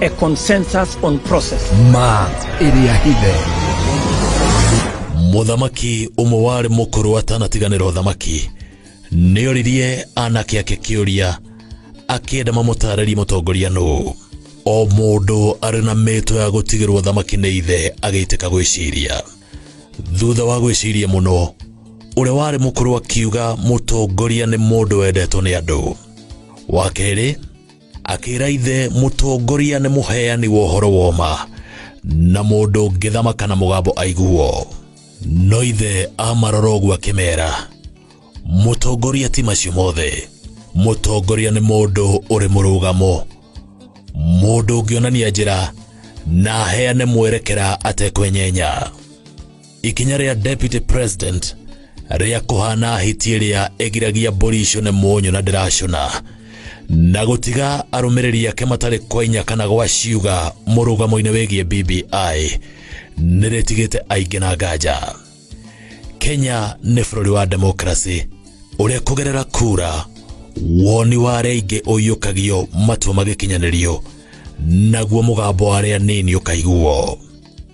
a consensus on process ma ĩrĩa hithe mũthamaki ũmwe warĩ mũkũrũ atanatiganĩra ũthamaki nĩ oririe anake ake kĩũria akĩenda mamũtaarĩrie mũtongoria nũ o mũndũ arĩ na mĩtwe ya gũtigĩrwo ũthamaki nĩ ithe agĩitĩka gwĩciria thutha wa gwĩciria mũno ũrĩa warĩ mũkũrũ akiuga mũtongoria nĩ mũndũ wendetwo nĩ andũ wa kerĩ akĩra ithe mũtongoria nĩ mũheani wa ũhoro woma na mũndũ ngĩthamaka na mũgambo aiguo no ithe amarora ũguo akĩmera mũtongoria ti macio mothe mũtongoria nĩ mũndũ ũrĩ mũrũgamo mũndũ ũngĩonania njĩra na aheane mwerekera atekwenyenya ikinya rĩa deputy president rĩa kũhana hiti ĩrĩa ĩgiragia mbũri icũne mũnyũ na ndĩracũna na gũtiga arũmĩrĩri ake matarĩ kwa inya kana gwa ciuga mũrũgamo-inĩ wĩgiĩ BBI nĩrĩtigĩte aingĩ na nganja Kenya nĩ bũrũri wa demokrasi ũrĩa kũgerera kura woni wa arĩa aingĩ ũiyũkagio matua magĩkinyanĩrio naguo mũgambo wa arĩa nini ũkaiguo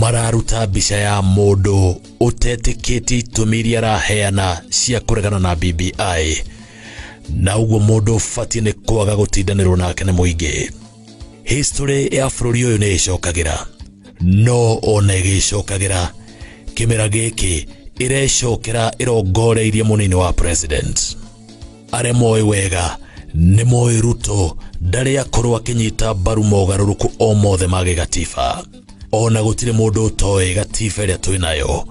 mararuta mbica ya mũndũ ũtetĩkĩtie itũmi iria araheana cia kũregana na BBI na ũguo mũndũ ũbatiĩ nĩ kwaga gũtindanĩrwo nake nĩ mũingĩ history ya bũrũri ũyũ nĩ ĩcokagĩra no ona ĩgĩcokagĩra kĩmera gĩkĩ ĩrecokera ĩrongoreirie mũnini wa president arĩa moĩ wega nĩ moĩ ruto ndarĩ akorwo akĩnyita mbaru mogarũrũku o mothe ma gĩgatiba ona gũtirĩ mũndũ ũtoĩ gatiba ĩrĩa twĩ nayo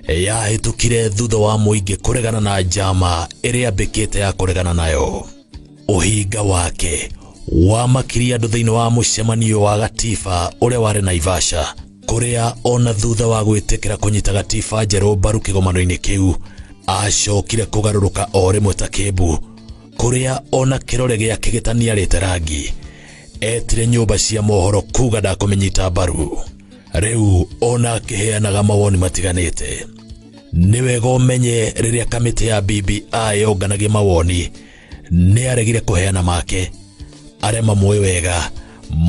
yahĩtũkire thutha wa mũingĩ kũregana na njama ĩrĩa mbĩkĩte ya kũregana nayo ũhinga wake wamakirie andũ thĩinĩ wa mũcemanio wa gatiba ũrĩa warĩ naivasha kũrĩa ona thutha wa gwĩtĩkĩra kũnyita gatiba njerũ mbaru kĩgomano-inĩ kĩu acokire kũgarũrũka o rĩmwe ta kĩmbu kũrĩa ona kĩrore gĩake gĩtaniarĩte rangi etire nyũmba cia mohoro kuga ndakũmĩnyita mbaru rĩu ona akĩheanaga mawoni matiganĩte nĩ wega ũmenye rĩrĩa kamĩtĩ ya BBI yonganagia mawoni nĩ aregire kũheana make arĩa mamũĩ wega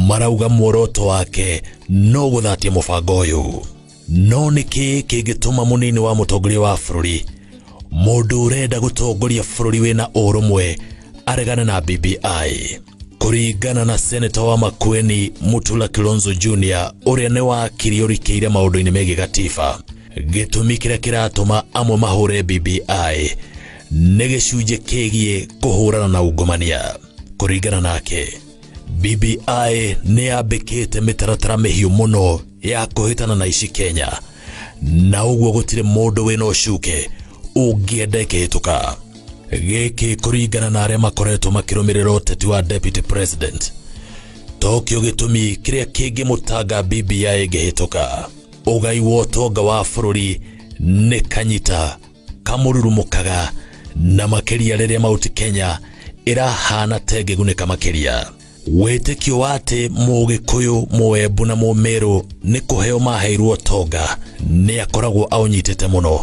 marauga muoroto wake no gũthatia mũbango ũyũ no nĩkĩ kĩngĩtũma mũnini wa mũtongoria wa bũrũri mũndũ ũrenda gũtongoria bũrũri wĩna ũrũmwe aregane na BBI kũringana na seneta wa Makueni Mutula Kilonzo Jr ũrĩa nĩ wakiri ũrikĩire maũndũ-inĩ megiĩ gatiba gĩtũmi kĩrĩa kĩratũma amwe mahũre BBI nĩ gĩcunjĩ kĩgiĩ kũhũrana na ungumania kũringana nake bbi nĩ yambĩkĩte mĩtaratara mĩhiũ mũno ya kũhĩtana na ici kenya na ũguo gũtirĩ mũndũ wĩna ũcuke ũngĩenda ĩkĩhĩtũka gĩkĩ kũringana na arĩa makoretwo makĩrũmĩrĩra ũteti wa deputy president tokio gĩtũmi kĩrĩa kĩngĩmũtanga bbi ĩngĩhĩtũka ũgai wa ũtonga wa bũrũri nĩ kanyita kamũrurumũkaga na makĩria rĩrĩa mauti Kenya ĩrahana ta ĩngĩgunĩka makĩria wĩtĩkio wa atĩ mũgĩkũyũ mũembu na mũmĩrũ nĩ kũheo maheirwo tonga nĩ akoragwo aũnyitĩte mũno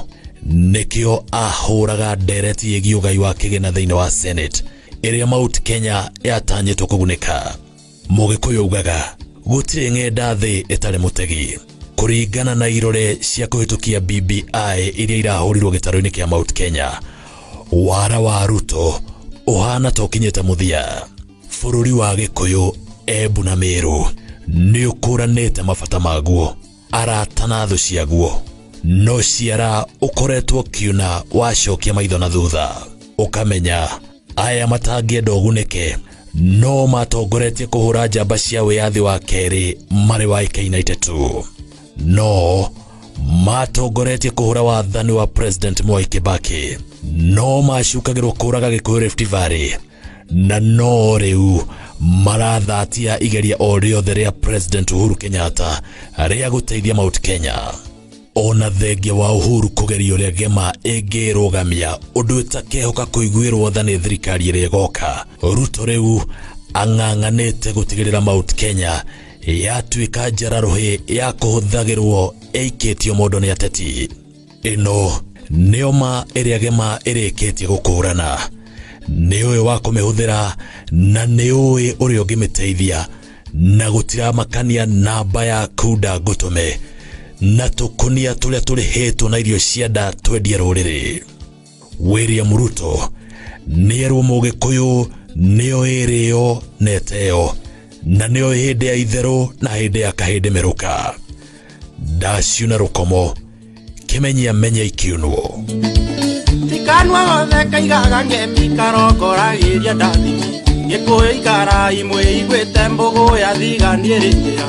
nĩkĩo ahũraga ndereti yĩgiĩ ũgai wa kĩgĩna thĩinĩ wa senate ĩrĩa mauti Kenya yatanyĩtwo kũgunĩka Mũgĩkũyũ augaga gũtirĩ ng'enda thĩ ĩtarĩ mũtegi. Kũringana na irore cia kũhĩtũkia BBI iria irahũrirwo gĩtarũ-inĩ kĩa Mount Kenya, wara wa Ruto ũhana ta ũkinyĩte mũthia. Bũrũri wa Gĩkũyũ, Embu na Mĩrũ nĩ ũkũranĩte mabata maguo. arata na thũ ciaguo no ciara ũkoretwo kiuna wacokia maitho na thutha ũkamenya aya matangĩenda ũgunĩke no matongoretie kũhũra njamba cia wĩyathi wa kerĩ marĩ wa ĩka united tu no matongoretie kũhũra wathani wa president mwai kĩbakĩ no macukagĩrwo kũraga gĩkũyũ rift valley na no rĩu marathatia igeria o rĩothe rĩa president uhuru kenyatta rĩa gũteithia mount kenya ona thengia wa uhuru kũgeria ũrĩa gema ĩngĩrũgamia ũndũ ĩtakehoka kũiguĩrwo tha nĩ thirikari ĩrĩa ĩgoka ruto rĩu ang'ang'anĩte gũtigĩrĩra mount kenya yatuĩka njararũhĩ ya kũhũthagĩrwo ĩikĩtio mũndũ nĩ ateti ĩno nĩyo ma ĩrĩa gema ĩrĩkĩtie gũkũũrana nĩ ũĩ wa kũmĩhũthĩra na nĩ ũĩ ũrĩa ũngĩmĩteithia na gũtiramakania namba ya kunda ngũtũme na tũkunia tũrĩa tũrĩhĩtwo na irio cia nda twendia rũrĩrĩ William Ruto nĩerwo mũgĩkũyũ nĩo ĩrĩo na ĩteo na nĩo hĩndĩ ya itherũ na hĩndĩ ya kahĩndĩ merũka ndaciuna rũkomo kĩmenyia menya ikiunwo tikanwa othe kaigaga ngemi karongoragĩria ndathimi gĩkũyũ ikarai mwĩiguĩte mbũgũ ya thigani ĩrĩkĩa